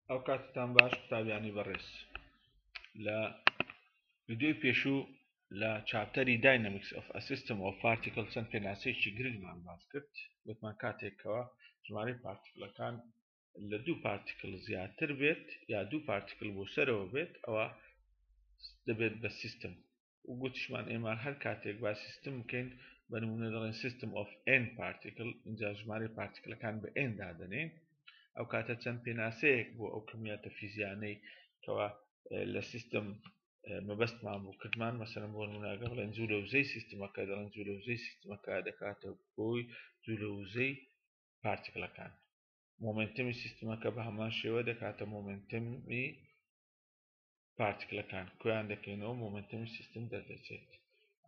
ئەو کاتتان باش قوتابیانی بەڕێز لە ویددیوی پێشوو لە چاپتەری داینەمیکس ئۆف ئەسیستم و پارتیکل چەند پێناسەیەکی گرنگمان باس کرد وتمان کاتێکەوە ژمارەی پارتیکلەکان لە دوو پارتیکل زیاتر بێت یا دوو پارتیکل بۆ سەرەوە بێت ئەوە دەبێت بە سیستم و گوتیشمان ئێمە هەر کاتێک با سیستم بکەین بە نمونە دەڵێن سیستم ئۆف ئێن پارتیکل اینجا ژمارە پارتیکلەکان بە ئێن دادنین ئەو کاتە چەند پێناسەیەک بۆ ئەو کمیاتە فیزیانەی کەوا لە سیستم مەبەستمان بوو کردمان مەسەرم بۆ نموناگە بڵێن زوو لە وزەی سیستمەکە دەڵێن زوو لە وزەی سیستمەکە دەکاتە بۆی زوو لە وزەی پارتیکلەکان مۆمنتمی سیستمەکە بە هەمان شێوە دەکاتە مۆمنتمی پارتکلەکان کۆیان دەکەینەوە مۆمنتەمی سیستم دەردەچێت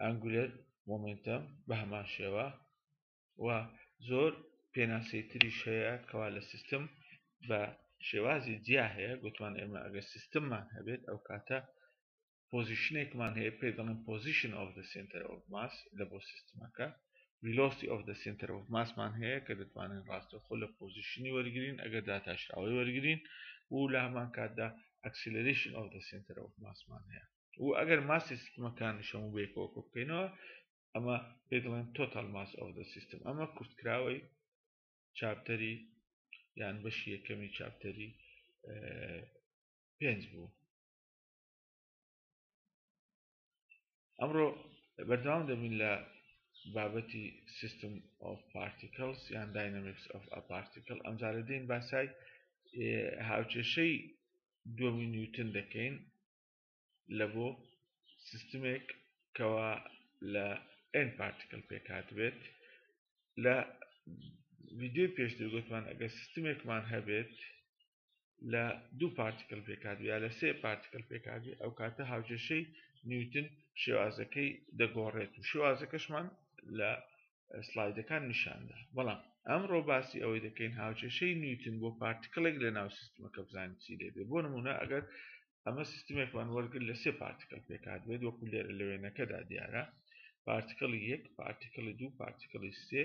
ئەنگولەر مۆمنتەم بە هەمان شێوە و زۆر پێناسەی تریش هەیە کەوا لە سیستم بە شێوازی جیا هەیە گوتمان ئێمە ئەگەر سیستممان هەبێت ئەو کاتە پۆزیشنێکمان هەیە پێ دەڵێن پۆزیشن ئۆف دە سنتەر ئۆف ماس لە بۆ سیستمەکە ویلۆستی ئۆف دە سنتەر ئۆف ماسمان هەیە کە دەتوانین ڕاستەخۆ لە پۆزیشنی وەرگین ئەگەر داتاشراوی وەرگین و لە هەمان کاتدا ئەکسلریشن ئەو دە سنتەر ئەو ماسمان هەیە و ئەگەر ماسی سیستمەکانی شەمو بێکەوە کۆ بکەینەوە ئەمە پێ دەڵێن تۆتال ماس ئەو دە سیستم ئەمە کورتکراوەی چاپتەری یان بەشی یەکەمی چاپتەری پێنج بوو ئەمڕۆ بەردەوام دەبین لە بابەتی سیستم ئۆف پارتیکلس یان داینامیکس ئۆف ئە پارتیکل ئەمجارە دێین باسای هاوچێشەی دووەمی نیوتن دەکەین لە بۆ سیستمێک کەوا لە ئەن پارتیکل پێکات بێت لە ویددیوی پێشتر گوتمان ئەگەر سیستمێکمان هەبێت لە دوو پارتیکل پێکات یا لە سێ پارتیکل پێکاتی ئەو کاتە هاوکێشەی نیوتن شێوازەکەی دەگۆڕێت و شێوازەکەشمان لە سلایدەکان نیشاندا بەڵام ئەمڕۆ باسی ئەوەی دەکەین هاوکێشەی نیوتن بۆ پارتیکلێک لە ناو سیستمەکە بزانین چی لێ بۆ نمونە ئەگەر ئەمە سیستمێکمان وەرگر لە سێ پارتیکل پێکات بێت وەکو لێرە لە وێنەکەدا دیارە پارتیکلی یەک پارتیکلی دوو پارتیکلی سێ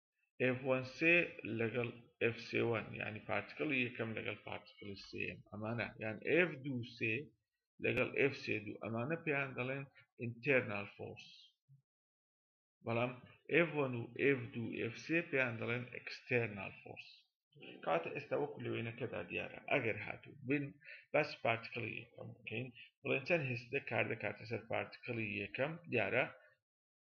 ئێف وەن سێ لەگەڵ ئێف سێ وەن یعنی پارتکڵی یەکەم لەگەڵ پارتکڵی سێم ئەمانە یان ئێف دوو سێ لەگەڵ ئێف سێ دوو ئەمانە پێیان دەڵێن ئینتەرنال فۆرس بەڵام ئێف وەن و ئێف دوو ئێف سێ پێیان دەڵێن ئەکستەرنال فۆرس کاتە ئێستا وەکو لەوێنەکەدا دیارە ئەگەر هاتوو بن بەس پارتکڵی یەکەم بکەین بڵێن چەند هێستە کار دەکاتە سەر پارتکڵی یەکەم دیارە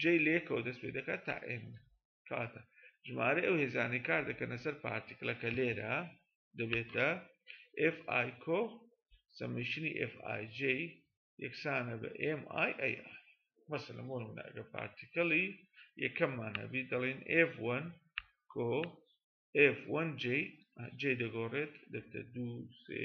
جێی لەیەکەوە دەست پێ دەکات تا ئێن کاتە ژمارە ئەو هێزانەی کار دەکەنە سەر پارتیکلەکە لێرە دەبێتە FI کۆ سەمیشنی FIJ یەکسانە بە MII مەسەلە بۆ نمونەگە پارتیکلی یەکەممان هەبی دەڵێن F1 کۆ F1J J دەگۆڕێت دەبێتە دوو سێ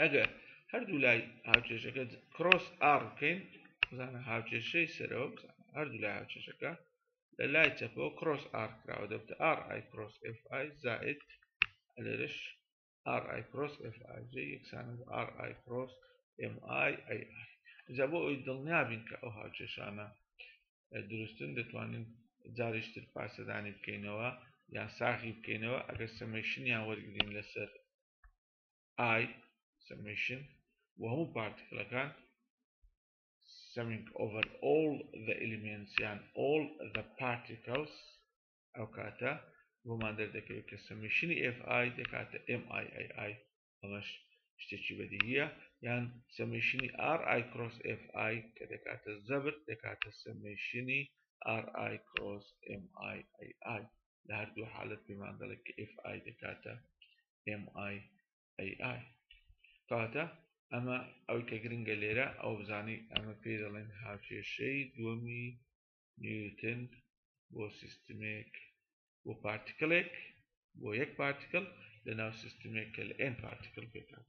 ئەگەر هەردوو لای هاوچێشەکە کرۆس ئاڕ بکەین بزانە هاوچێشەی سەرەوە بزانە هەردوو لای هاوچێشەکە لە لای چەپەوە کرۆس ئاڕ کراوە دەبتە ئاڕ ئای کرۆس ئف ئای زائد لێرش ئاڕ ئای کرۆس ئف ئای جێ یەکسانە بە ئاڕ ئای کرۆس ئم ئای ئەی ئای جا بۆ ئەوی دڵنیابین کە ئەو هاوچێشانە دروستن دەتوانین جاریشتر پاسەدانی بکەینەوە یان ساغی بکەینەوە ئەگەر سەمەشنیان وەرگین لەسەر ئای سەمشن بۆ هەموو پارتیکلەکان سەمینگ ئۆڤەر ئۆڵ ذە ئلیمنس یان ئۆڵ ذە پارتیکلس ئەو کاتە بۆمان دەردەکەوێت کە سەمشنی ئف ئای دەکاتە ئم ئای ئای ئای ئەمەش شتێکی بەدیهیە یان سەمشنی ئار ئای کرۆس ئف ئای کە دەکاتە زەبر دەکاتە سەمشنی ئار ئای کرۆس ئم ئای ئای ئای لە هەردوو حالەت پێمان دەڵێت کە ئف ئای دەکاتە ئم ئای ئەی ئای کاتە ئەمە ئەو کە گرنگە لێرە ئەو بزانین ئەمە پێ دەڵێن هاوکێشەی دووەمی نیوتن بۆ سیستمێک بۆ پارتیکلێک بۆ یەک پارتیکل لە ناو سیستمێک کە لە ئێن پارتیکل پێکات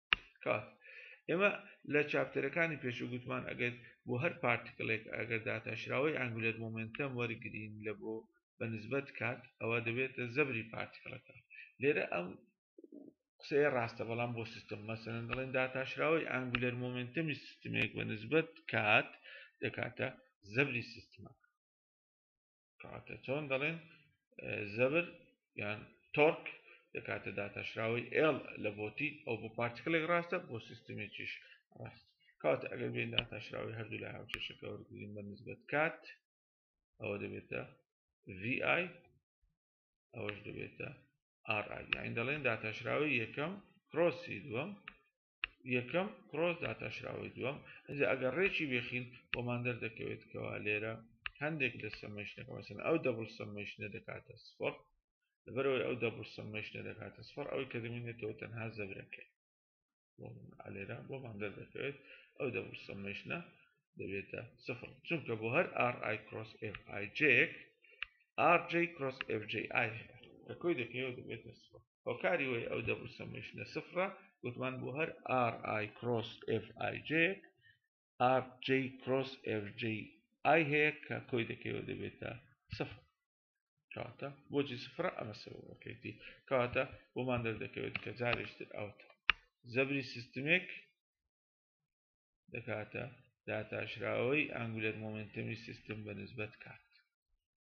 کات ئێمە لە چاپتەرەکانی پێشو گوتمان ئەگەر بۆ هەر پارتیکلێک ئەگەر داتاشراوەی ئەنگولەر مۆمنتەم وەرگین لە بۆ بە نسبەت کات ئەوە دەبێتە زەبری پارتیکلەکە لێرە ئەم قسەیە ڕاستە بەڵام بۆ سیستم مەسەن دەڵێن داتاشراوەی ئەنگولەر مۆمنتەمی سیستمێک بە نسبەت کات دەکاتە زەبری سیستمەکە کەواتە چۆن دەڵێن زەبر یان تۆرک دەکاتە داتاشراوەی ئێڵ لە بۆتی ئەو بۆ پارتکلێک ڕاستە بۆ سیستمێکیش ڕاست کات ئەگەر بێن داتاشراوی هەردوو لە هاوچێشەکە وەرگین بە نسبەت کات ئەوە دەبێتە VI ئەوەش دەبێتە RI یاین دەڵێن داتاشراوی یەکەم کرۆسی دووەم یەکەم کڕۆس داتاشراوەی دووەم ئەجا ئەگەر ڕێکی بێخین بۆمان دەردەکەوێت کەوا لێرە هەندێک لە سەمەشنەکە مەسن ئەو دەبڵ سەمەشنە دەکاتە سفر لەبەرەوەی ئەو دەبڵ سەمەشنە دەکاتە سفر ئەوەی کە دەمێنێتەوە تەنها زەبرەکەی لێرە بۆمان دەردەکەوێت ئەو دەبڵ سەمەشنە دەبێتە سفر چونکە بۆ هەر ئار ئای کرۆس ئف ئای جێک ئار جی کرۆس ئف جی ئای کە کۆی دەکەوێت دەبێتە سفر هۆکاری وەی ئەو دەبوو سەمشنە سفرە گوتمان بۆ هەر RI کرۆس FIJ RJ کرۆس FJ ئای هەیە کە کۆی دەکەوە دەبێتە سفر کاتە بۆجی سفرە ئەمە سەبەکەیتی کاتە بۆمان دەردەکەوێت کە جارێشتر ئەوتە زەبری سیستمێک دەکاتە داتاشراوەی ئەنگولەر مۆمنتمی سیستم بە نسبەت کات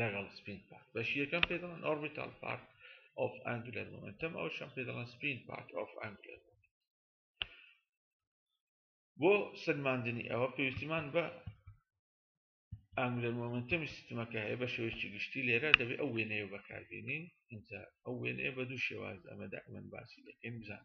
لەگەڵ سپین پارت بەشی یەکەم پێ دەڵێن ئۆربیتال پارت ئۆف ئەنگولەر مۆمنتەم ئەو شەم پێ دەڵێن سپین پارت ئۆف ئەنگولەر بۆ سلماندنی ئەوە پێویستیمان بە ئەنگولەر مۆمنتەمی سیستمەکە هەیە بە شێوەیەکی گشتی لێرە دەبێت ئەو وێنەیە بەکاربیێنین ئینجا ئەو وێنەیە بە دوو شێواز ئەمەدا ئەمن باسی دەکەین بزان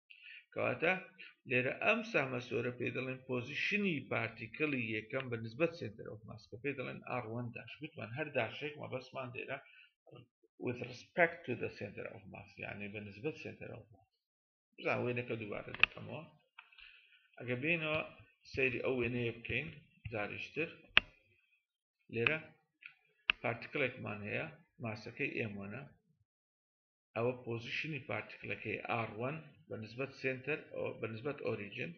کەواتە لێرە ئەم سامەسۆرە پێ دەڵێن پۆزیشنی پارتیکلی یەکەم بە نسبەت سنتەر ئۆف ماس کە پێ دەڵێن ئاڕوەن داش گوتمان هەر داشێک مە بەسمان دێرە with respect to the center of mass یعنی بە نسبەت سنتەر ئۆف ماس بزان وێنەکە دووبارە دەکەمەوە ئەگە بینەوە سەیری ئەو وێنەیە بکەین جاریشتر لێرە پارتیکلێکمان هەیە ماسەکەی ئێمەە ئەوە پۆزیشنی پارتکلەکەی R1 بە نسبەت سێنتەر بە نسبەت ئۆریجن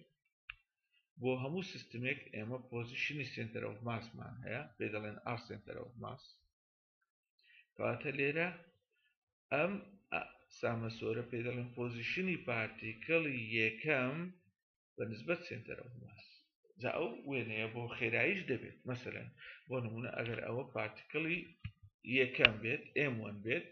بۆ هەموو سیستمێک ئێمە پۆزیشنی سێنتەر ئەو ماسمان هەیە پێ دەڵێن R سێنتەر ئەو ماس کەواتە لێرە ئەم سامەسۆرە پێ دەڵێن پۆزیشنی پارتیکڵی یەکەم بە نسبەت سێنتەر ئەو ماس جا ئەو وێنەیە بۆ خێرایش دەبێت مەسەرەن بۆ نمونە ئەگەر ئەوە پارتکڵی یەکەم بێت ئێموەن بێت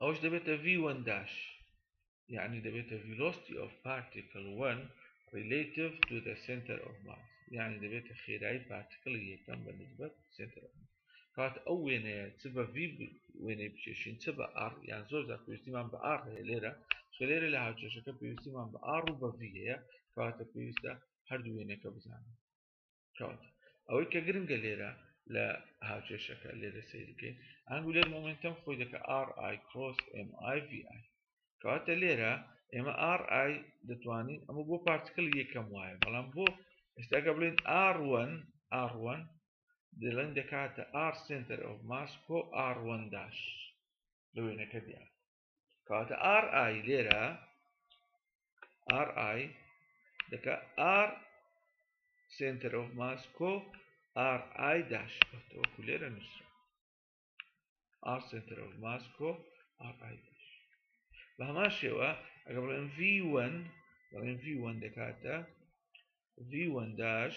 ئەوش دەبێتە ڤی وەن داش یعنی دەبێتە ڤیلۆستی ئۆف پارتیکل وەن ریلیتیڤ تو دە سنتەر ئۆف ماس یعنی دەبێتە خێرایی پارتیکڵی یەکەم بە نسبەت سنتەر ئۆف ماس کات ئەو وێنەیە چ بە ڤی وێنەی بچێشین چ بە ئاڕ یان زۆر زار پێویستیمان بە ئاڕ هەیە لێرە چ لێرە لە هاوچێشەکە پێویستیمان بە ئاڕ و بە ڤی هەیە کاتە پێویستە هەردوو وێنەکە بزانین کەواتە ئەوەی کە گرنگە لێرە لە هاوکێشەکە لێرە سیرکەین ئەنگولەر مۆمنتەم خۆی دەکە RI کرۆس MIVI کەواتە لێرە ئێمە RI دەتوانین ئەمە بۆ پارتکل یەکەم وایە بەڵام بۆ ئێستاکە بڵێن R1 R1 دڵێن دەکاتە R سنتەر ئەو ماس کۆ R1 داش لە وێنەکە دیار کەواتە ئار ئای لێرە ئار ئای دەکە ئار سنتەر ئۆف ماس کۆ ئار ئای داش وەکو لێرە نووسرا ئار سنتەر ئۆف ماس کۆ ئار ئای داش بە هەمان شێوە ئەگە بڵێن V1 دەڵێن V1 دەکاتە V1 داش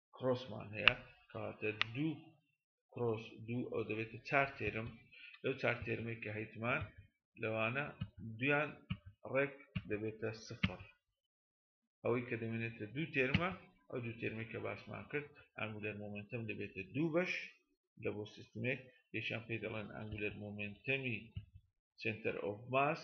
کرۆسمان هەیە کاتە دوو کرۆس دوو ئەو دەبێتە چار تێرم لەو چار تێرمێک کە هەیتمان لەوانە دویان ڕێک دەبێتە سفر ئەوەی کە دەمێنێتە دوو تێرمە ئەو دوو تێرمی کە باسمان کرد ئەنگولەر مۆمنتم دەبێتە دوو بەش لە بۆ سیستمێک یەکیان پێی دەڵێن ئەنگولەر مۆمنتەمی سنتەر ئۆف ماس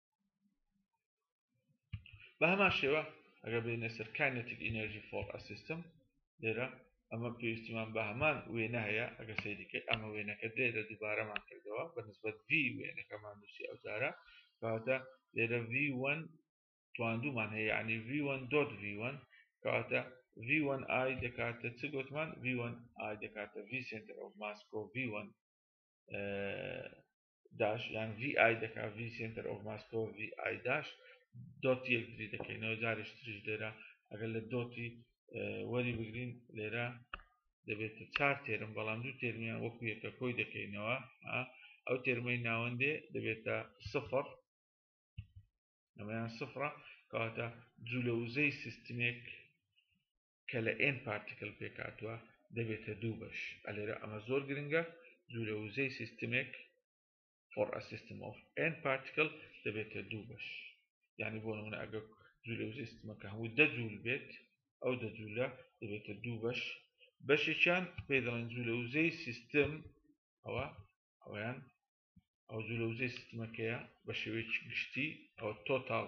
بە هەمان شێوە ئەگەر بێنە سەر کانەتیک ئینەرژی فۆڵ ئەسیستم لێرە ئەمە پێویستیمان بە هەمان وێنە هەیە ئەگە سەیریکەی ئەمە وێنەکە لێرە دووبارەمان کردەوە بە نسبەت ڤی وێنەکەمان نووسی ئەوجارە کەواتە لێرە ڤ1 تواندومان هەیە یعنی ڤ1 دۆت ڤ1 کەواتە ڤ1 ئای دەکاتە چ گوتمان ڤ1 ئای دەکاتە ڤ سنتەر ئەو ماسکۆ ڤ1 داش یان ڤی ئای دەکا ڤی سنتەر ئۆف ماسکۆ ڤی ئای داش دۆتی یەکتری دەکەینەوە جارێش تریش لێرە ئەگەر لە دۆتی وەری بگرین لێرە دەبێت چار تێرم بەڵام دوو تێرمیان وەکو یەکە کۆی دەکەینەوە ئەو تێرمەی ناوەندێ دەبێتە سفر ئەمەیان سفرە کەواتە جوولە وزەی سیستمێک کە لە N پارتیکل پێکهاتووە دەبێتە دوو بەش ئەلێرە ئەمە زۆر گرنگە جوورە وزەی سیستمێک for a system of N particle دەبێتە دوو بەش یعنی بۆ نمونە ئەگە جوولە وزەی سیستمەکە هەموو دە جوول بێت ئەو دە جوولە دەبێتە دوو بەش بەشێکیان پێ دەڵێن جوولە وزەی سیستم ئەوە ئەویان ئەو جوولە وزەی سیستمەکەیە بە شێوەیەکی گشتی ئەو تۆتاڵ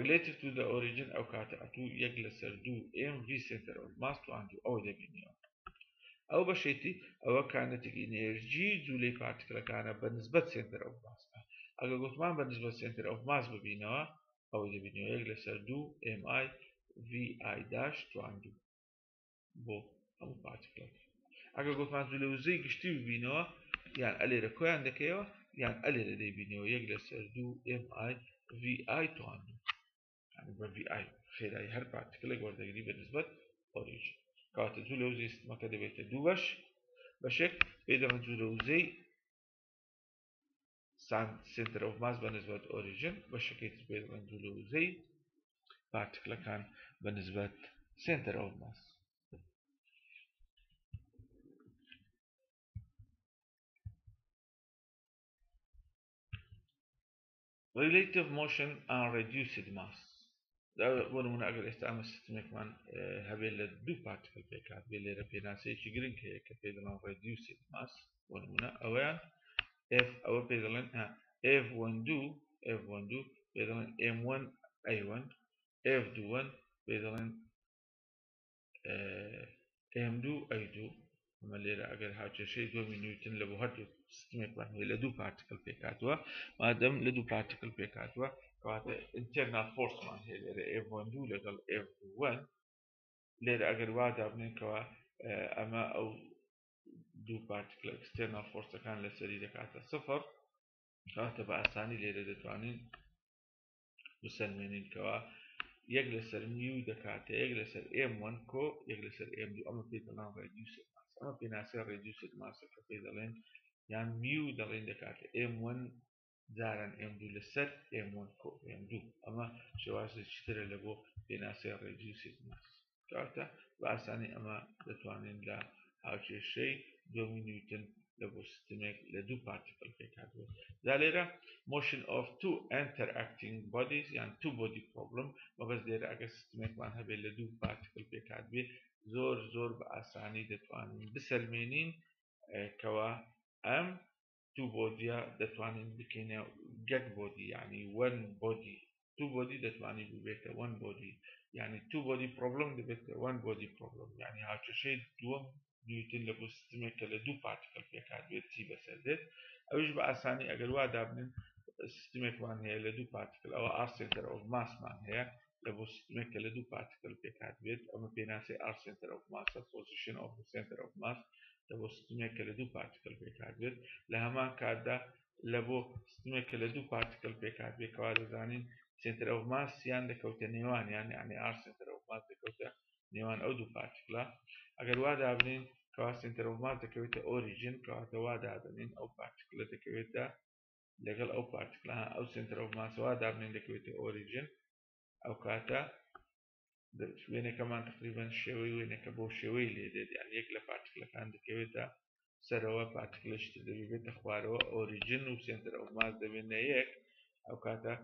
relative to the origin ئەو کاتە ئەتوو یەک لەسەر دوو ئێم ڤی سێنتەر ئۆف ماس تو ئەند ئەوە دەبینیەوە ئەو بەشێتی ئەوە کانێتێک ئینێرژی جوولەی پارتکلەکانە بە نسبەت سێنتەر ئەو ماسە ئەگە گوتمان بە نسبەت سێنتەر ئەو ماس ببینەوە ئەوە دەبینەوە یەک لەسەر دوو ئێم ئای ڤی ئای داش توان دوو بۆ ئەو پارتیکلەکە ئەگەر گوتمان لە وزەی گشتی ببینەوە یان ئەلێرە کۆیان دەکەیەوە یان ئەلێرە دەیبینەوە یەک لەسەر دوو MI VI توان بە VI خێرایی هەر پارتیکلێک وەردەگری بە نسبەت ئۆریج کاتە جوو لە وزەی سیستمەکە دەبێتە دوو بەش بەشێک پێدەمە جوو لە وزەی ساند سێنتەر ئۆف ماس بەنسبەت ئۆریجن بەشەکەی تر پێ دەڵێن جوولە وزەی پارتکلەکان بەنسبەت سێنتەر ئۆف ماس relative motion and reduced mass بۆ نمونە ئەگەر ئێستا ئەمە سیستمێکمان هەبێت لە دوو پارتکل پێکات بێ لێرە پێناسەیەکی گرنگ هەیە کە پێ دەڵان ڕێدیوسێت ماس بۆ نمونە ئەویان ئف ئەوە پێ دەڵێن ئف وەن دوو ئف وەن دوو پێ دەڵێن ئێم وەن ئەیوەن ئف دووەن پێ دەڵێن ئێم دوو ئەی دوو ئەمە لێرە ئەگەر هاوکێشەی دۆمی نیوتن لە بۆ هەردوو سیستمێکمان هەیە لە دوو پارتیکل پێکاتوە مادەم لە دوو پارتیکل پێکاتوە کەواتە ئینتەرنا فۆرسمان هەیە لێرە ئێڤۆن دوو لەگەڵ ئێڤوەن لێرە ئەگەر وادا بنێنکەوە ئەمە ئەو دوو پارتیکل ئەکسستێنا فۆرسەکان لەسەری دەکاتە سفر کاتە بە ئاسانی لێرە دەتوانین بسەلمێنین کەەوە یەک لەسەر نیو دەکاتە یەک لەسەر ئێم وەن کۆ یەک لەسەر ئێم دوو ئەمە پێ دەڵان ڕێدیوسێت ماس ئەمە پێناسە ڕێدیوسێت ماسە کە پێ دەڵێن یان میو دەڵێن دەکاتە ئێم وەن جاران ئێم دوو لەسەر ئێم وەن کۆ ئێم دوو ئەمە شێوازێکی ترە لە بۆ پێناسەی ڕێدیوسێت ماس کاتە بە ئاسانی ئەمە دەتوانین لە هاوکێشەی دۆمی نیوتن لە بۆ سیستمێک لە دوو پارتیکل پێکاتوە دا لێرە مۆشن ئۆف تو ئەتەر ئەکتینگ بۆدیز یان تو بۆدی پرۆبلم مەبەز لێرە ئەگەر سیستمێکمان هەبێت لە دوو پارتیکل پێکات بێ زۆر زۆر بە ئاسانی دەتوانین بسەلمێنین کەوا ئەم تو بۆدیە دەتوانین بکەینە گەگ بۆدی یعنی وەن بۆدی تو بۆدی دەتوانی ببێتە وەن بۆدی یعنی تو بۆدی پرۆبلم دەبێتە وەن بۆدی پرۆبلم یعنی هاوکێشەی دووەم نیوتن لە بۆ سیستمێک کە لە دوو پارتیکل پێکات بێت چی بەسەر دێت ئەوش بە ئاسانی ئەگەر وا دابنن سیستمێکمان هەیە لە دوو پارتیکل ئەوە ئاستێنتەر ئۆف ماسمان هەیە لە بۆ سیستمێک کە لە دوو پارتیکل پێکات بێت ئەمە پێناسی ئار سنتەر ئۆف ماسە پۆزیشن ئۆف سنتەر ئۆف ماس لە بۆ سیستمێک کە لە دوو پارتیکل پێکات بێت لە هەمان کاتدا لە بۆ سیستمێک کە لە دوو پارتیکل پێکات بێت کەوا دەزانین سنتەر ئۆف ماسیان دەکەوتە نێوان یان یعنی ئار سنتەر ئۆف ماس دەکەوتە نێوان ئەو دوو پارتیکلە ئەگەر وا دابنین کەوا سنتەر ئۆف ماس دەکەوێتە ئۆریژن کەواتە وا دادنین ئەو پارتیکلە دەکەوێتە لەگەڵ ئەو پارتکلە ئەو سنتەر ئەو ماسەوە دابنێن دەکەوێتە ئۆریجن ئەو کاتە وێنەکەمان تقریبان شێوەی وێنەکە بۆ شێوەی لێ دێت یان یەک لە پارتکلەکان دەکەوێتە سەرەوە پارتکلشت دەبێتە خوارەوە ئۆریجن و سنتەر ئەو ماس دەبێنە یەک ئەو کاتە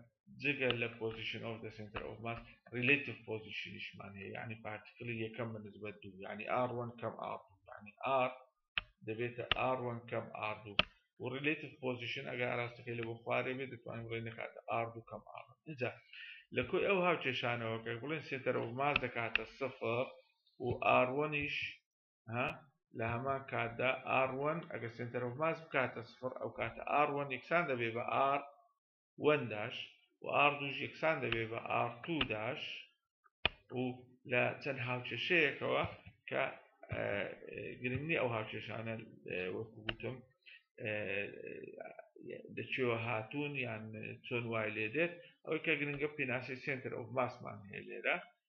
جگە لە پۆزیشن ئەو دە سنتەر ئەو ماس ریلیتیف پۆزیشنیشمان هەیە یعنی پارتکلی یەکەم بە نسبەت دوو یعنی ئاڕوان کەم ئاڕ یعنی ئار دەبێتە ئاڕ وەن کەم ئاڕ دوو و ڕیلیتیف پۆزیشن ئەگە ئاراستەکەی لە بۆ خوارێ بێت دەتوانین بڵێ نەکاتە ئاڕ دوو کەم ئاڕ اینجا لە کۆی ئەو هاوکێشانەوە کە بڵێن سێتەرە و ماز دەکاتە سفر و ئاڕوەنیش ها لە هەمان کاتدا ئاڕوەن ئەگە سنتەر و ماز بکاتە سفر ئەو کاتە ئاڕوەن یەکسان دەبێ بە ئار وەن داش و ئار دووش یەکسان دەبێ بە ئار تو داش و لە چەند هاوکێشەیەکەوە کە گرنگی ئەو هاوکێشانە وەکو گوتم دەچێوە هاتوون یان چۆن وای لێ دێت ئەوەی کە گرنگە پێناسی سنتەر ئەو ماسمان هەیە لێرە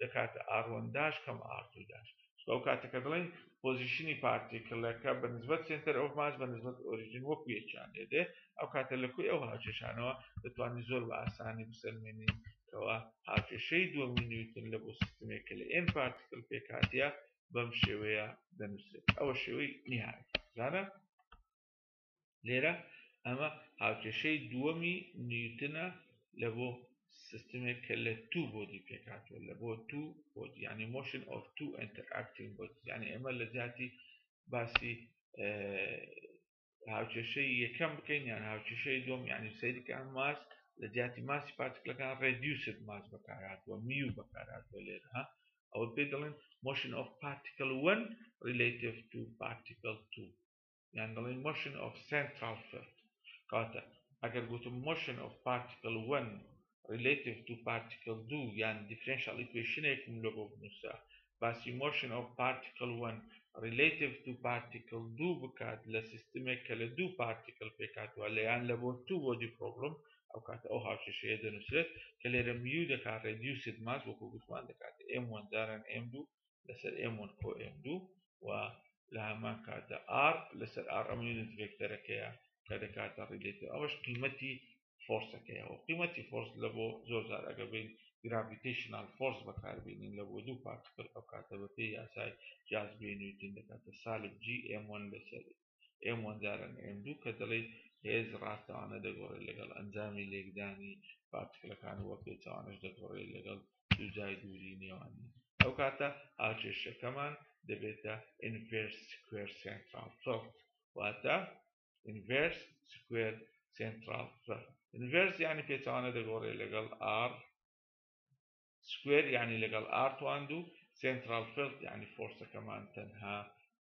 دەکاتە ئاروەنداش کەم ئاڕتوو داش چکە ئەو کاتەکە دڵێن پۆزیشنی پارتیکلەکە بە نزبەت سێنتەر ئۆف ماس بە نزبەت ئۆریژین وەکو یەکیان لێ دێ ئەو کاتە لە کوی ئەو هاوکێشانەوە دەتوانین زۆر بە ئاسانی بسەلمێنین کەوا هاوکێشەی دووەمی نیوتن لە بۆ سیستمێک کە لە ئێن پارتیکل پێکاتە بەم شێوەیە دەنووسێت ئەوە شێوەی نهایی زانە لێرە ئەمە هاوکێشەی دووەمی نیوتنە لە بۆ سیستمێک کە لە تو بۆدی پێکاتوە لە بۆ تو بۆدی ینی مۆشن ئۆف تو ئەتەکتین بۆ ینی ئەمە لە جاتی باسی هاوکێشەی یەکەم بکەین یان هاوکێشەی دوم ینی سەیرکان ماس لە جیاتی ماسی پارتکلەکان ڕێدیوسد ماس بەکارهاتوە میو بەکارهاتوە لێرها ئەوە پێ دەڵێن مۆشن ئۆف پارتیکل 1 ریلیتیف تو پارتیکل 2 یان دەڵێین Motion of Central Field کەواتە ئەگەر گوتم Motion of Particle 1 Relative to Particle 2 یان Differential Equation ێکم لۆ بۆ بنووسە باسی Motion of Particle 1 Relative to Particle 2 بکات لە سیستمێک کە لە دوو پارتیکل پێکاتوە لە یان لە بۆ تو بۆدی پرۆبلم ئەو کاتە ئەو هاوکێشەیە دەنووسێت کە لێرە میو دەکات ڕێدیوسید ماس وەکو گوتمان دەکات ئێم وەندارن ئێم دوو لەسەر ئێمون ئۆ ئێم دوو و لە هەمان کاتە ئار لەسەر ئار ئەم یونت ڤێکتەرەکەیە کە دەکاتە ڕیلێتە ئەوەش قیمەتی فۆرسەکەیەوە قیمەتی فۆرس لە بۆ زۆر زار ئەگە بین گراڤیتیشنال فۆرس بەکاربیێنین لە بۆ دوو پارتکل ئەو کاتە بە پێی یاسای جاز بێنیوتن دەکاتە سالب جی ئێمۆن لەسەر ئێم وەن جاران ئێم دوو کە دەڵێی هێز ڕاستەوانە دەگۆڕێت لەگەڵ ئەنجامی لێکدانی پارتکلەکان و پێچەوانەش دەگۆڕێت لەگەڵ دووجای دووری نێوانی ئەو کاتە هاوکێشەکەمان دەبێتە ئینڤێرس سکوێر سێنتراڵ فەڵت واتە ئینڤێرس سکوێر سێنتراڵ فەڵت ئینڤێرس یعنی پێچەوانە دەگۆڕێت لەگەڵ ئار سکوێر یعنی لەگەڵ ئارتوان دوو سێنتراڵ فەڵت یعنی فۆرسەکەمان تەنها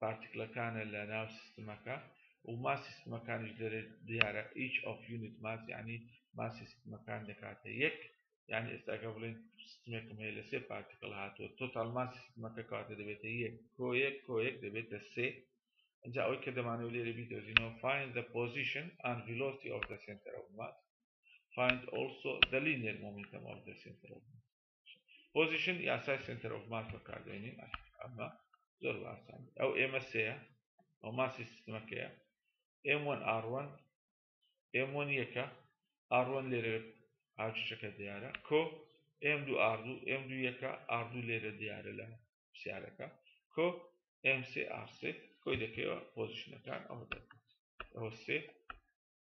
پارتکلەکانە لە ناو سیستمەکە و ماس سیستمەکانیش دەرێت دیارە each of unit mass یعنی ماس سیستمەکان دەکاتە یەک یعنی ئێستاکە بڵێن سیستمێکم هەیە لە سێ پارتکل هاتووە تۆتال ماس سیستمەکە کاتە دەبێتە یەک کۆیەک کۆیەک دەبێتە سێ ئەجا ئەوی کە دەمانەوە لێرە بیدۆزینەوە find the position and velocity of the center of mass find also the linear momentum of the center of mass پۆزیشن یاسای سنتەر ئۆف ماس بەکاردێنین ئەمە زۆر باسان ئەو ئێمە سەیە ئەو ماسی سیستمەکەیە ئێمۆن ئاڕوەن ئێمۆن یەکە ئاڕوەن لێرە ئاچەکە دیارە کۆ ئێم دوو ئاردوو ئێم دوو یەکە ئاردوو لێرە دیارە لە پرسیارەکە کۆ ئێم سێ ئارسێ کۆی دەکەوە پۆزیشنەکان ئەوە دەکە ئەوە سێ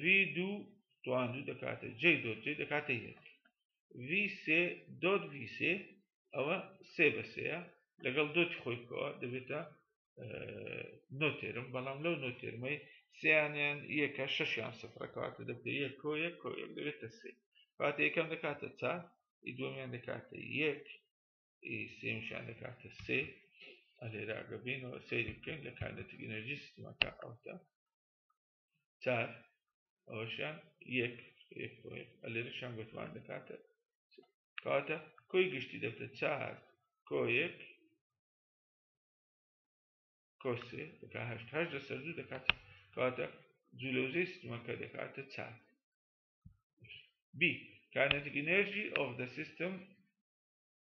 ڤی دوو توان دوو دەکاتە جێ دۆت جێ دەکاتە یەک ڤی سێ دۆت ڤی سێ ئەوە سێ بە سەیە لەگەڵ دۆتی خۆی بکەوە دەبێتە نۆتێرم بەڵام لەو نۆتێرمەی سیانیان یەکە شەشیان سفرەکەواتە دەبێت یەک کۆ یەک کۆ یەک دەبێتە سێ کاتە یەکەم دەکاتە چار ئی دومیان دەکاتە یەک ئی سێمشان دەکاتە سێ ئەلێراگە بینەوە سەیری بکەین لە کاندەتی ئەنەرژی سیستمەکە ئەوتە چار ئەوەشیان یەک یەک ئەلێرەشان گوتمان دەکاتە کاتە کۆی گشتی دەبتە چار کۆ یەک کۆسێ دەکات هەشت هەشت لەسەر دوو دەکات کاتە جولەوزەی سیستمەکە دەکاتە چار بی kinetic energy of the system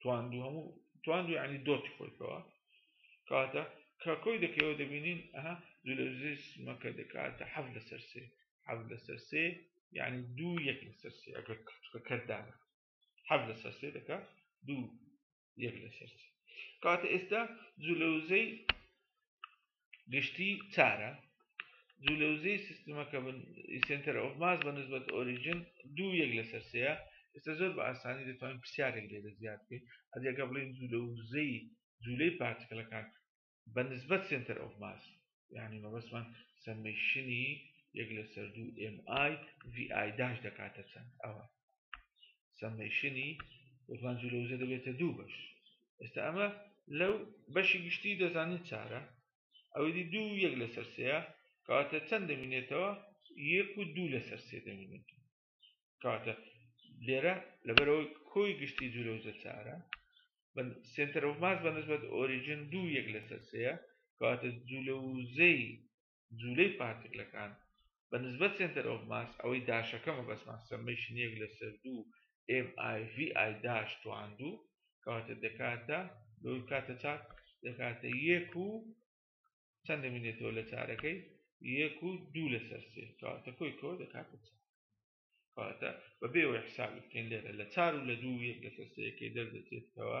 تواندو هەموو تواندو یعنی دۆتی خۆی کەوە کاتە کاکۆی دەکەوە دەبینین ئەها دولەزیز مەکە دەکاتە حەف لەسەر سێ حەف لەسەر سێ یعنی دوو یەک لەسەر سێ ئەگەر کەتوکە کەردانە حەف لەسەر سێ دەکات دوو یەک لەسەر سێ کاتە ئێستا جولەوزەی گشتی چارە دوو لەوزەی سیستمەکە سنتەر ئۆف ماس بە نسبەت ئۆریژن دوو یەک لەسەر سەیە ئێستا زۆر بە ئاسانی دەتوانین پرسیارێک لێ دەزیاد بکەین ئەدیەکە بڵین دوو لەوزەی جوولەی پارتکلەکان بە نسبەت سنتەر ئۆف ماس یعنی مەبەسمان سمشنی یەک لەسەر دوو ئم ئای ڤی ئای داش دەکاتە چەند ئەوە سەمەیشنی وەفان جلوزە دەبێتە دوو بەش ئێستا ئەمە لەو بەشی گشتی دەزانین چارە ئەوەی دوو یەک لەسەر سەیە کاتە چەند دەمینێتەوە یەک و دوو لەسەر سێ دەمینێت کاتە لێرە لەبەرەوەی کۆی گشتی جلوزە چارە سنتەر و ماس بە نسبەت ئۆریژن دوو یەک لەسەر سەیە کاتە جلوزەی جولەی پارتکلەکان بە نسبەت سێنتەر ئۆف ماس ئەوەی داشەکە مەبەستمان سەممەیشن یەک لەسەر دوو ئێم ئای ڤی ئای داش تواندوو کەواتە دەکاتە لەوەی بکاتە چار دەکاتە یەک و چەند دەمینێتەوە لە چارەکەی یەک و دوو لەسەر سێ کەواتە کۆی کۆ دەکاتە چار کەواتە بەبێەوەی حسابی بکەین لێرە لە چار و لە دوو یەک لەسەر سێەکەی دەردەچێتەوە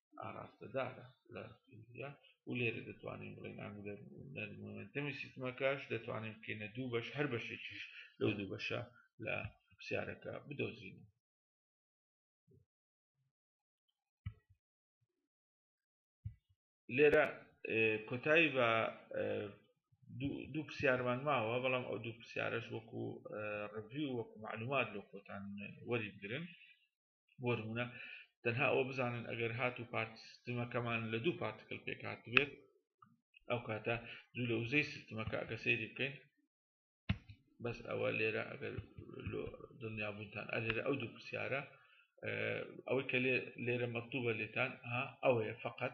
ئاراستەدارە لە فیزیا و لێرە دەتوانین بڵێن ئەنگولەر مۆمنتەمی سیستمەکەش دەتوانین بکەینە دوو بەش هەر بەشێکیش لەو دوو بەشە لە پرسیارەکە بدۆزین لێرە کۆتایی بە دوو پرسیارمان ماوە بەڵام ئەو دوو پرسیارش وەکو ڕڤی و وەکو معلومات لۆ خۆتان وەری بگرن بۆ نمونە تەنها ئەوە بزانن ئەگەر هات و پارت سیستمەکەمان لە دوو پارتکل پێکات بێت ئەو کاتە دوو لە وزەی سیستمەکە ئەگە سەیری بکەین بەس ئەوە لێرە ئەگەر دڵنیابوونتان ئەلێرە ئەو دوو پرسیارە ئەوەی کە لێرە مەکتوبە لێتان ها ئەوەیە فقط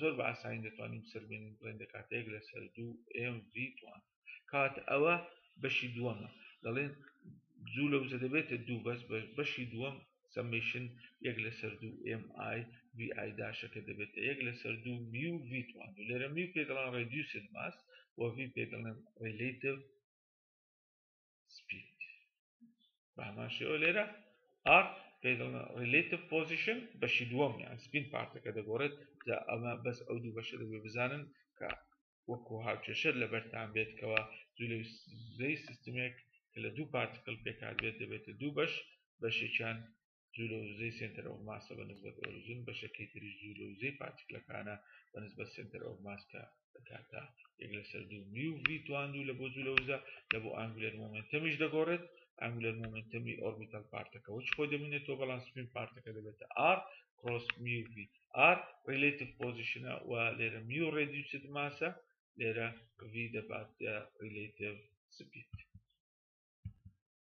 زۆر بە ئاسانی دەتوانین بسەلمێنین بڵێین دەکاتە یەک لەسەر دوو ئێم ڤی توان کات ئەوە بەشی دووەمە دەڵێن زوو لە وزە دەبێتە دوو بەس بەشی دووەم سمشن یەک لەسەر دوو ئێم ئای وی ئای داشەکە دەبێتە یەک لەسەر دوو میو وی توان و لێرە میو پێ دەڵان ڕێدیوسن ماس وڤی پێ دەڵێن ڕیلیتیو سپید بە هەمان شێوە لێرە ئار ریلیتیف پۆزیشن بەشی دووەم یان سپین پارتەکە دەگۆڕێت جا ئەمە بەس ئەو دوو بەشە دەبێ بزانن کە وەکو هاوکێشەر لە بەرتان بێتکەوە زوی سیستمێک کە لە دوو پارتکل پێکات بێت دەبێتە دوو بەش بەشێکیان جوولە و وزەی سێنتەر ئۆف ماسە بە نسبەت ئۆریجن، بەشەکەی تریش جوولە و وزەی پارتیکلەکانە بە نسبەت سێنتەر ئۆف ماس کە دەکاتە یەک لەسەر دوو میو ڤی تواندوو لە بۆ جوولە وزە لە بۆ ئانگولەر مۆمنتەمیش دەگۆڕێت ئانگولەر مۆمنتەمی ئۆربیتال پارتەکە وەچ خۆی دەبینێتەوە بەڵام سپین پارتەکە دەبێتە ئار کڕۆس میو ڤی ئار ریلیتیف پۆزیشنە و لێرە میو ڕێدیوسد ماسە لێرە ڤی دەبات ریلیتیف سپید